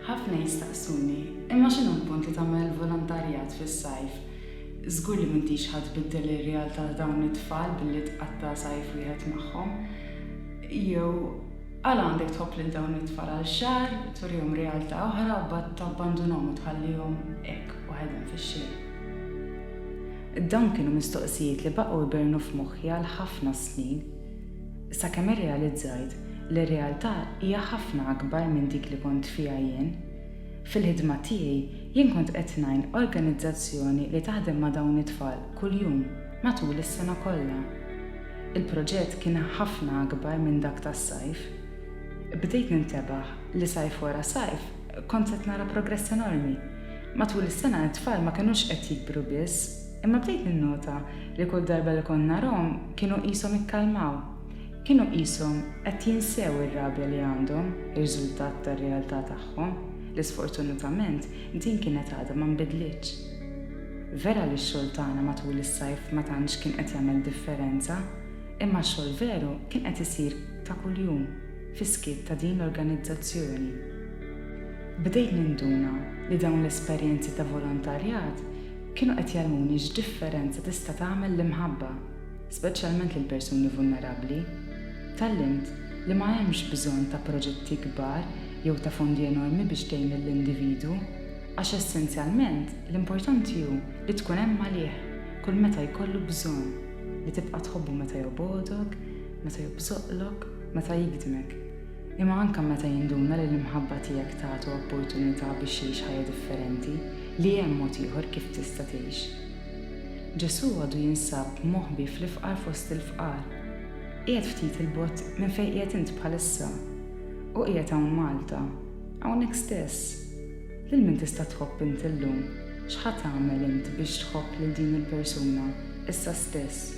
Ħafna jistaqsuni, imma x'inhu l-punt li tagħmel volontarjat fis-sajf? Żgur li m'intix ħa tbiddel ir-realtà ta' dawn it-tfal billi tqatta' sajf wieħed magħhom. Jew għala għandek tħobb lil dawn it-tfal għal xahar, turihom realtà oħra u mbagħad tabbandunhom u tħallihom hekk waħedhom fix-xejn? Dawn kienu mistoqsijiet li baqgħu jbernu f'moħħi għal ħafna snin, sakemm irrealizzajt li r-realtà hija ħafna akbar minn dik li kont fiha jien. Fil-ħidma tiegħi, jien kont qed ngħin organizzazzjoni li taħdem ma' dawn it-tfal kuljum matul is-sena kollha. Il-proġett kien ħafna akbar minn dak tas-sajf. Bdejt nintebaħ li sajf wara sajf, Kont qed nara progress enormi. Matul is-sena t-tfal ma kinux qed jikbru biss, imma bdejt ninnota li kull darba li kont narahom kienu qishom ikkalmaw. Kienu qishom qed jinsew ir-rabja li għandhom, riżultat tar-realtà tagħhom, li sfortunatament din kienet għadha ma nbidlitx. Vera li x-xogħol tagħna matul is-sajf ma tantx kien qed jagħmel differenza, imma x-xogħol veru kien qed isir ta' kuljum. fis-skiet ta' din l-organizzazzjoni. Bdejt ninduna li dawn l-esperjenzi ta' volontarjat kienu qed jgħallmuni x'differenza tista' tagħmel l-imħabba, speċjalment lil persuni vulnerabbli. Tgħallimt li ma hemmx bżonn ta' proġetti kbar jew ta' fondi enormi biex tgħin lill-individwu, għax essenzjalment l-importanti hu li tkun hemm għalih kull meta jkollu bżonn, li tibqa' tħobbu meta jobgħodok, meta jobżoqlok. meta jikdmek, imma anke meta jinduna li l-imħabba tiegħek tagħtu opportunità biex jgħix ħajja differenti, li hemm mod ieħor kif tista' tgħix. Ġesù għadu jinsab moħbi fl-ifqar fost il-fqar, qiegħed ftit 'il bogħod minn fejn qiegħed int bħalissa. Hu qiegħed hawn Malta, hawnhekk stess. Lil min tista' tħobb int illum? X'ħa tagħmel int biex tħobb lil din il-persuna, issa stess?